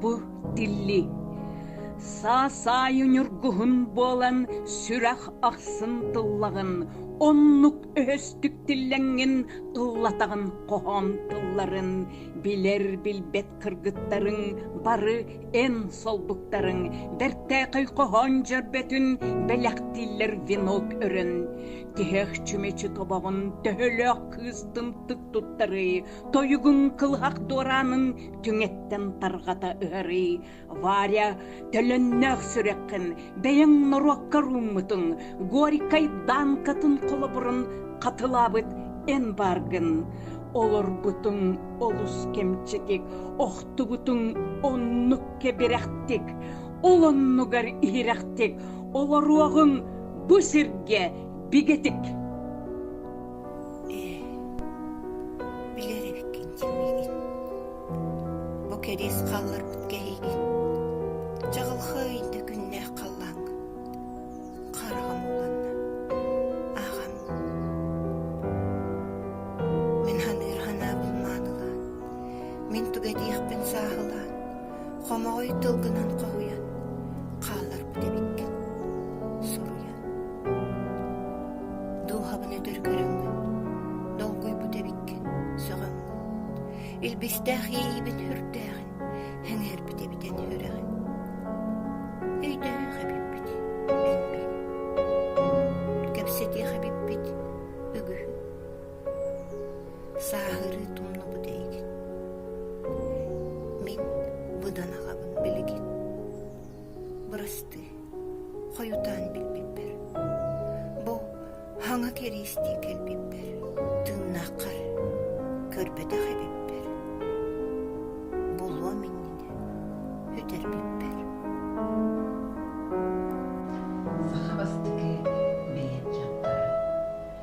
Бу тилли саа-саайы ньургуһун буолан сүрэх ахсын тыллаҕын, оннук өһөстүк тиллэҥҥин тыллатаҕын хоһоон тылларын билэр-билбэт кыргыттарыҥ бары эн солбуктарыҥ бэртээхэй хоһоон дьөрбөтүн бэлэхтииллэр венок өрөн, тиһэх чүмэчи тобоҕун төһөлөөх кыыстын тык туттарый, Тойугуҥ кылһах дуораанын түҥэттэн тарҕата ыһарый, Варя, төлөннөөх сүрэххин, бэйэҥ норуокка рууммутуҥ, Горькай Данкатын холобурун хатылаабыт эмбаргын. Олорбутуҥ олус кэмчитик, охтубутуҥ оннук кэбирэхтик, ол оннугар иһирэхтик, олоруоҕуҥ бу сиргэ бигэтик. Ээ, билэр эбиккин дии миигин. Бу кэриис хаалларбыт кэһиигин. Чаҕылхай да күннээх халлааҥҥа. Хараҕым уланна. Аҕам. Мин саныыр санаабын маанылаан, мин туга диэхпин сааһылаан, хомоҕой тылгынан хоһуйан хаалларбыт эбиккин. Суруйан. Дулҕабын өтөр көрөҥҥүн, долгуйбут эбиккин, сөҕөҥҥүн, илбистээх иэйиибин үрдээҕин, сэҥээрбит эбитин үөрэҕин. Өйдөөөх эбиппит, мин мин. Кэпсэтиэх эбиппит, үгүһү. Сааһырыы тумнубут эйигин. Мин быдан аҕабын билигин. бырастыы хойутаан билбиппэр бу хаҥа кэриэстии кэлбиппэр тыыннааххар көрбөтөх эбиппэр булуом иннинэ үтэрбиппэр саха бастакы бэйэт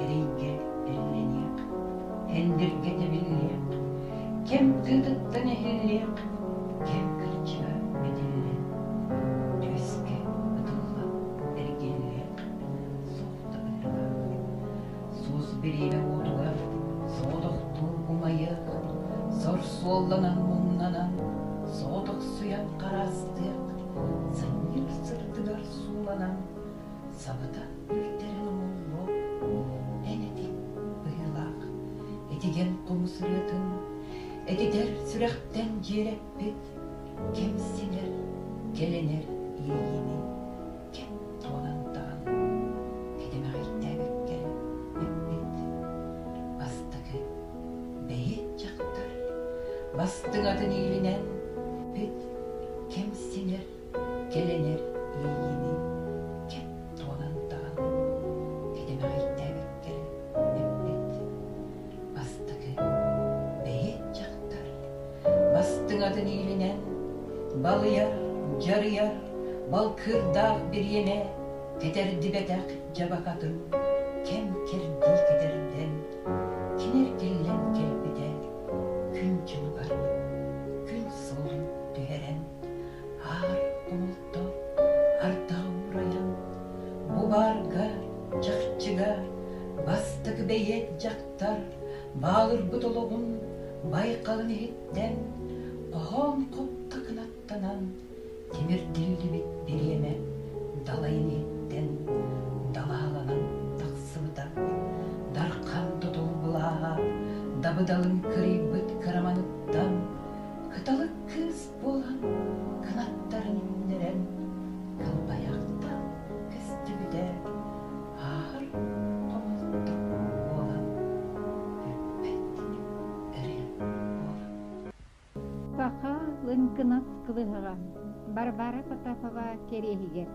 Эрэйгэ тэллэниэх, тендергэ тэбиллиэх, кэм тыытыттан иһиллиэх, кэм кырдьыга битиллэн, түөскэ ытылла эргиллиэх суохта быһыылаах. Суос бириэмэ уотугар соҕотохтуу умайыах, сор суолланан муннанан соҕотохсуйан хараастыах, сынньык сырдыгар сууланан Сабата үлтэрин омуллуо эн эти быһыылаах. Этигэр тугу сырыатын, этитэр сүрэхтэн дьиэрэппит, кэм сиҥэр, кэлэнэр иэйиини кэм туолан таҕан кэтэмэҕэйдээбиккэ эппит. Бастакы бэйи дьахтар бастыҥатын иилинэн пит кэм сиҥэр Кэлэнэр иэйиини чэ туолан даҕаны тилимэҕэйдээбиттэрэ эппит бастакы бэйиэт дьахтар бастыҥатын иилинэн балыйар дьарыйар балкыырдаах бириэмэ кэтэрдибэтэх дьабакатын кэм кэрдии кэтэрдэн кини эргиллэн кэлбитэ күн дьылы барбыт күн суолун түһэрэн Аар Олто ардах уурайан, бу баарга, чахчыга бастакы бэйиэт дьахтар баалырбыт олоҕун байҕалын иһиттэн хоһоон хопто кынаттанан тимирдиллибит бириэмэ далайын иһиттэн далаһаланан тахсыбыта дархан тотул былааҕа дабыдалын кырыйбыт кыраманыттан кыталык кыыс буолан кынаттарын имнэрэн кылбайартан көстүбүтэ ааһар хомолтох буолан эппэттиин эрэйэн буолар Саха Лыҥкынас кылыһаҕа Барбара Потапова кэриэһигэр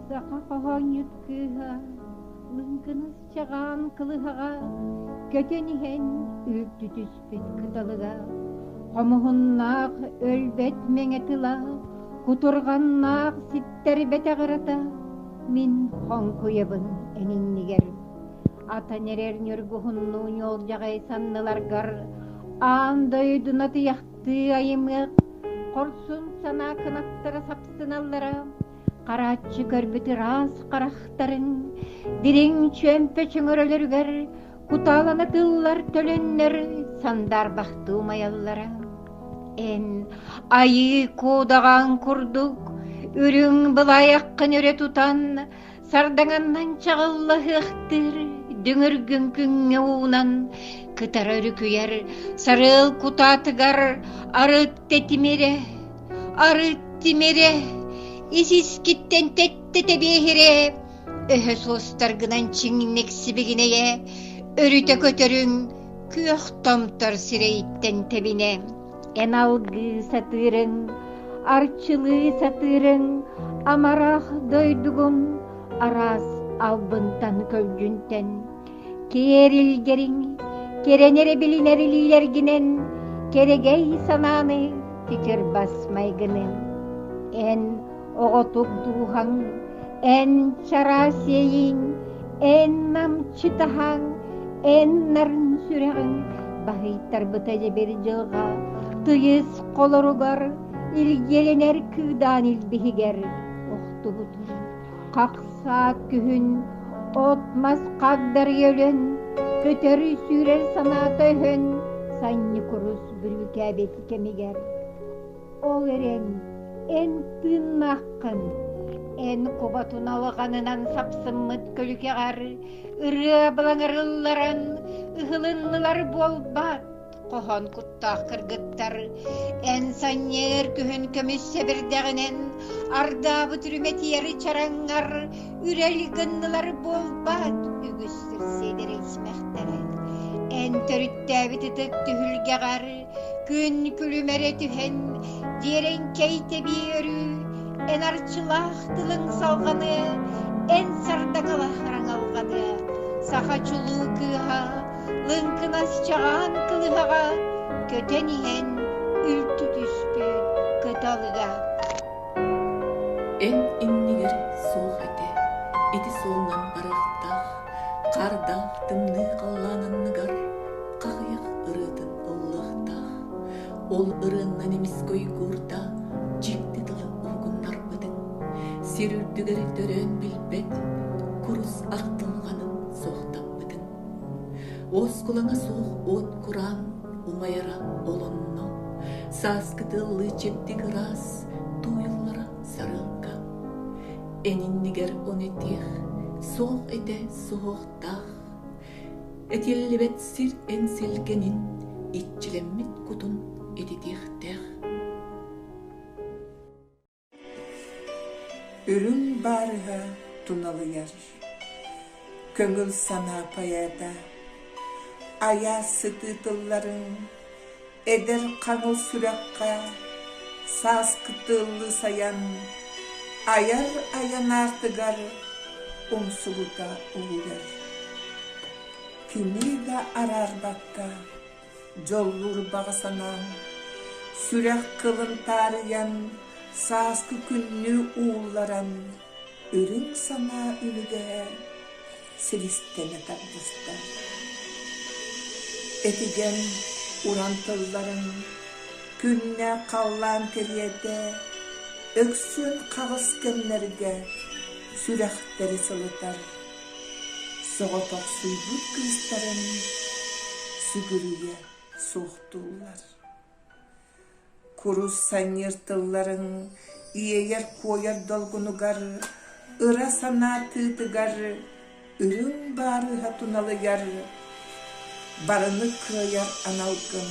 саха хоһоонньут кыыһа Лыҥкынас чаҕаан кылыһаҕа көтөн иһэн үрдүтүс кыталыга хомуһуннаах өлбөт мэҥэ тыла кутурҕаннаах ситтэрбэтэҕырата мин хоҥкуйабын эҥиннигэр атан эрэр ньургуһуннуу ньуолдьаҕай санныларгар аан дойду натыйахтыы айымыах хорсун санаа кынаттара сапсыналлара Харааччы көрбүт ыраас харахтарын дириҥ чөмпө чөҥөрөлөрүгэр кутаалана тыллар төлөннөр сандаарбахтыы умайаллара. Эн айыы куудаҕаҥ курдук үрүҥ былайаххын өрө тутан сардаҥаннан чаҕыллаһыахтыыр дүҥүргүн күҥҥэ уунан кытара үрүкүйэр сарыал кутаатыгар арыт тэтимирэ Арыт тимирэ ис-искиттэн тэттэ тэбиэһирэ өһө суостаргынан чиҥник сибигинэйэ өрүтэ көтөрүҥ күөх томтор сирэйиттэн тэбинэ эн алгыы сатыырыҥ арчылыы сатыырыҥ амарах дойдугум араас албынтан көлдьүнтэн Киэрилгэриҥ, кэрэн эрэ билинэр илиилэргинэн, кэрэгэй санааны түтүр бас майгыны. Эн оҕотук дууһаҥ, эн чараас иэйиҥ, эн намчытаһаҥ, эн нарын сүрэҕиҥ баһыйтарбыта дьэбир дьылҕа тыйыс холоругар, илгиэлэнэр кыыдаан илбиһигэр охтубут. Хахсаат күһүн от-мас хагдарыйа өлөн, көтөрү сүүрэр санаата өһөн, санньыкурус бүрүүкээбит кэмигэр. Ол эрэн, эн тыыннааххын, эн кубатун алҕанынан сапсыммыт көлүкэҕэр ырыа балаҥырылларан ыһылыннылар буолбаат? хоһоон куттаах кыргыттар эн санньыар күһүн көмүс сэбирдэҕинэн ардаабыт үрүмэтиэри чараҥҥар үрэл гыннылар буолбат үгүс сир сиэдэрилсимэхтэрэ эн төрүттээбит ытык түһүлгэҕэр күн күлүмэрэ түһэн дьиэрэҥкэй тэбии өрүү эн арчылаах тылыҥ салҕаны эн сардакалаах хараҥалҕаны саха чулуу кыыһа лыҥкынас чаҕаан кылыһаҕа көтөн иһэн үлтү түспүт кыталыга эн иннигэр суох этэ ити суолунан барыахтаах хаардаах тымныы халлаан анныгар хаҕыйах ырыатын ыллаахтаах ол ырыаннан эмискэ уйгуурда дьикти тылы уһугуннарбытын сир үрдүгэр төрөөн билбэт курус артылҕанын суохтаппытын Уоскулаҥа суох уот кураан умайара олонно, сааскы тыллыы чэбдик ыраас тууйуллара сарыалка. Эниннигэр он этиэх, суох этэ суһуохтаах, этиллибэт сир эн силгэнин иччилэммит кутун ититиэхтээх. Үрүҥ баарыһа туналыйар, көҥүл санаа поэта, айаас сытыы тылларын эдэр хаҥыл сүрэххэ сааскы тыллыы сайан айар айан аартыгар умсугута угуйар. Кини да араарбакка дьоллуур баҕа санаам сүрэх кылын таарыйан сааскы күннүү уулларан үрүҥ санаа үлүгэһэ силистэнэ тарҕаста этигэн уран тылларыҥ күннэ халлаан кэриэтэ өксүөн хаҕыс кэмнэргэ сүрэхтэри сылытар Соҕотохсуйбут кыыстарын сүгүрүйэ суохтууллар. Курус санньыыр тылларын иэйэр-куойар долгунугар, ыра санаа тыытыгар үрүҥ баарыыһа туналыйар, барыны кыайар аналгын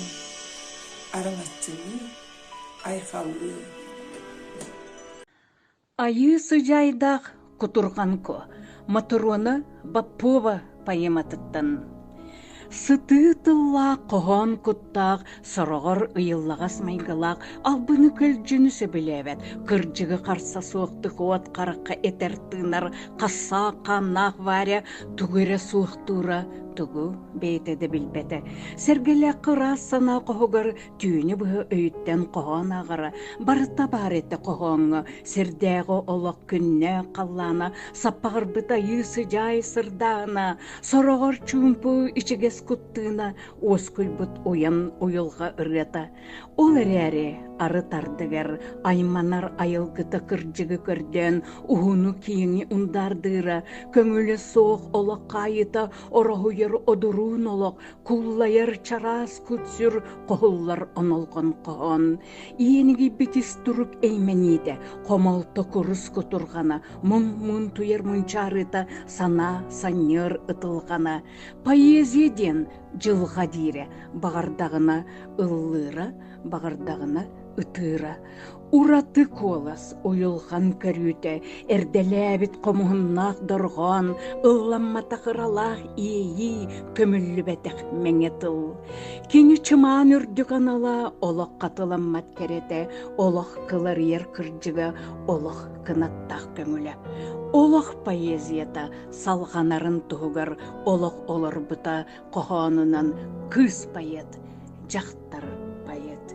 араҥаччылыы, айхаллыы. Айыы сыдьаайдаах Кутурҕанко Мотуруона Боппуоба поэматыттан сытыы тыллаах хоһоон куттаах сороҕор ыйыллаҕас майгылаах албыны көлдьүнү сөбүлээбэт кырдьыгы харса суохтук уот харахха этэр тыынар хасsaак хааннаах Варя тугу эрэ суохтуура тугу бэйэтэ да билбэтэ сэргэлээххэ ыраас санаа хоһугар түүнү быһа өйүттэн хоһоон аҕара барыта баар этэ хоһооҥҥо сирдээҕи олох күннээх халлаана саппаҕырбыт айыы сыдьаай сырдаана сороҕор чуумпу ичигэс куттууна уоскуйбут уйан уйулҕа ырыата ол эрээри ары тардыгар айманар айылгыта кырдьыгы көрдөөн уһуну-киэҥи ундаардыыра көҥүлэ суох олох хаайыта ороһуйар одуруун олох куллайар чараас кутсүр хоһуллар онолҕон хоһоон иэнигийбит ис турук эймэниитэ хомолто курус кутурҕана мун-мун туйар мунчаарыта санаа санньыар ытылҕана поэзия диэн дьылҕа диирэ баҕардаҕына ыллыыра баҕардаҕына ытыыра Ураты куолас уйулҕан көрүүтэ эрдэлээбит хомуһуннаах дорҕоон ылламматах ыралаах иэйии көмүллүбэтэх мэҥэ тыл кини чымаан үрдүк анала олоххо тыламмат кэрэтэ олох кыларыйар кырдьыга олох кынаттаах көҥүлэ олох поэзията салҕанарын туһугар олох олорбута хоһоонунан кыыс поэт дьахтар поэт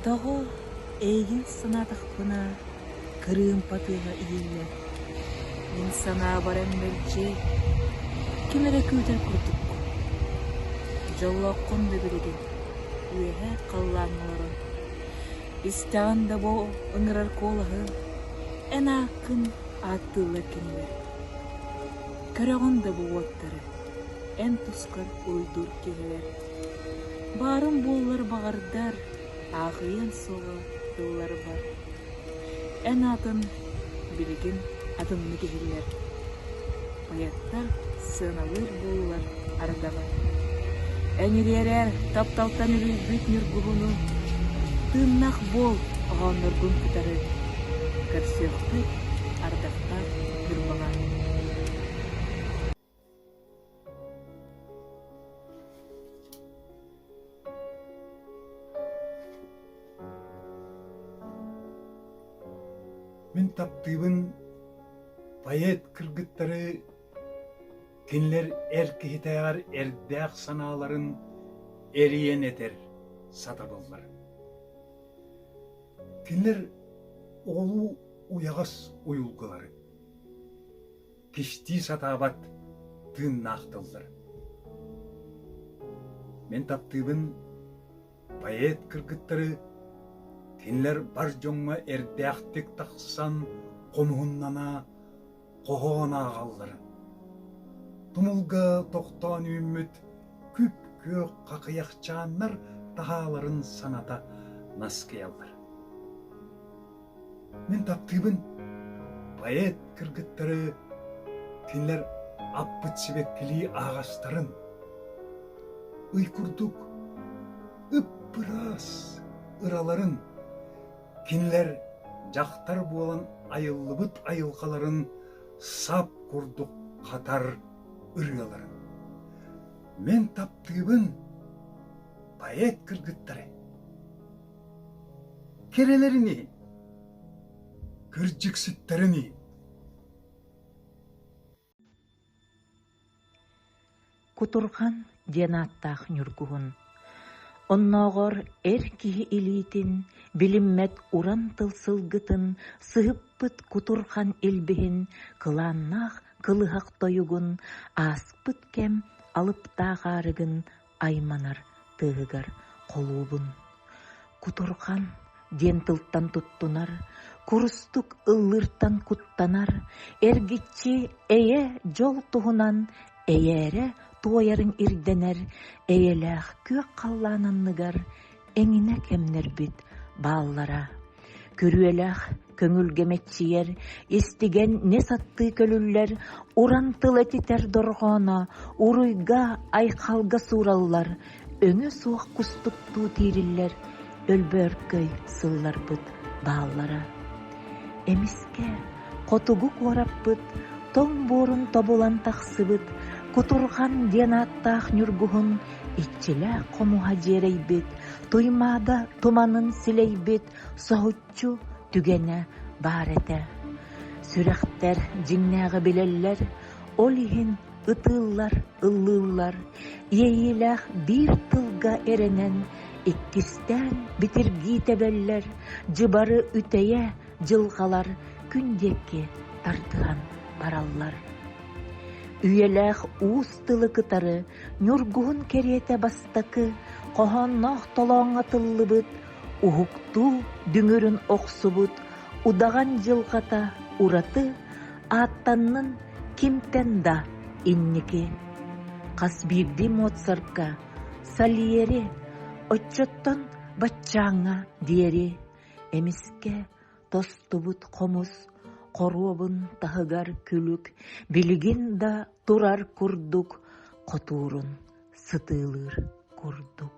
Тоҕо эйигин санаатахпына кырыымпа тыаһа иһиллэр мин санаабар эн мэлдьи ким эрэ күүтэр курдуккун дьоллооххун да билигин үөһээ халлааҥҥа олорон истэҕин да бу ыҥырар куолаһы эн ааккын ааттыыллар кинилэр Көрөҕүн да бу уоттары, эн тускар уруйдуур киһилэр. Баарын буоллар баҕардар, аахыйыан суоҕа тылларбар. Эн атын, билигин атыннык иһиллэр. Поэттар сыаналыыр буоллар ардаҕын. Эҥириэрэ тапталтан үлүйбүт ньургуһуну, тыыннах буол оһоонноргун кытары. Көрсүөхпүт ардахтан сырбаҕа Мин таптыыбын поэт кыргыттары кинилэр эр киһитээҕэр эрдээх санааларын эрийэн этэр сатабыллар. Кинилэр оҕолуу уйаҕас уйулгылары, кистии сатаабат тыыннаах тыллар. Мин таптыыбын поэт кыргыттары кинилэр бар дьоҥҥо эрдээхтик тахсан хомуһуннана хоһоон ааҕалларын, тумулга тохтоон үүммүт күп-күөх хахыйахчааннар таһааларын саната наскыйаллар. Мин таптыыбын поэт кыргыттары кинилэр аппыт сибэккилии аҕастарын ый курдук ып-ыраас ыраларын Кинилэр дьахтар буолан айыллыбыт айылҕаларын сап курдук хатар ырыаларын. Мин таптыыбын поэт кыргыттары. Кирилэрини, кырдьыксыттарыни. Кутурҕан диэн ааттаах ньургуһун оннооҕор эр киһи илиитин, билиммэт уран тыл сылгытын сыһыппыт кутурҕан илбиһин кылааннаах кылыһах тойугун ааспыт кэм алыптаах аарыгын айманар тыаһыгар холуубун кутурҕан диэн тылтан туттунар курустук ыллыыртан куттанар эргиччи эйэ дьол туһунан эйээрэ туойарын ирдэнэр эйэлээх күөх халлаан анныгар эҥинэ кэмнэрбит бааллара күрүөлээх көҥүлгэ мэччийэр истигэн нэ саттыы көлүллэр уран тыл этитэр дорҕооно уруйга айхалга суураллар өҥө суох кустуктуу тиириллэр өлбөөркөй сылларбыт бааллара Эмискэ хотугу куораппыт тоҥ буорун тобулан тахсыбыт Кутурҕан диэн ааттаах ньургуһун иччилээх хомуһа дьиэрэйбит Туймаада туманын силэйбит соһуччу түгэнэ баар этэ. Сүрэхтэр дьиҥнээҕи билэллэр, ол иһин ытыыллар, ыллыыллар, иэйиилээх биир тылга эрэнэн, иккистээн битиргии тэбэллэр, дьыбары үтэйэ дьылҕалар күн диэки тардыһан бараллар. Үйэлээх уус тылы кытары ньургуһун кэриэтэ бастакы хоһоонноох толооҥҥо тыллыбыт, уһуктуу дүҥүрүн охсубут удаҕан дьылҕата ураты Ааттаннын кимтэн да инники Хас биирдии Моцартка Сальери Оччоттон баччааҥҥа диэри Эмискэ тостубут хомус Хоруобун таһыгар күлүк Билигин да турар курдук Хотуурун сытыылыыр курдук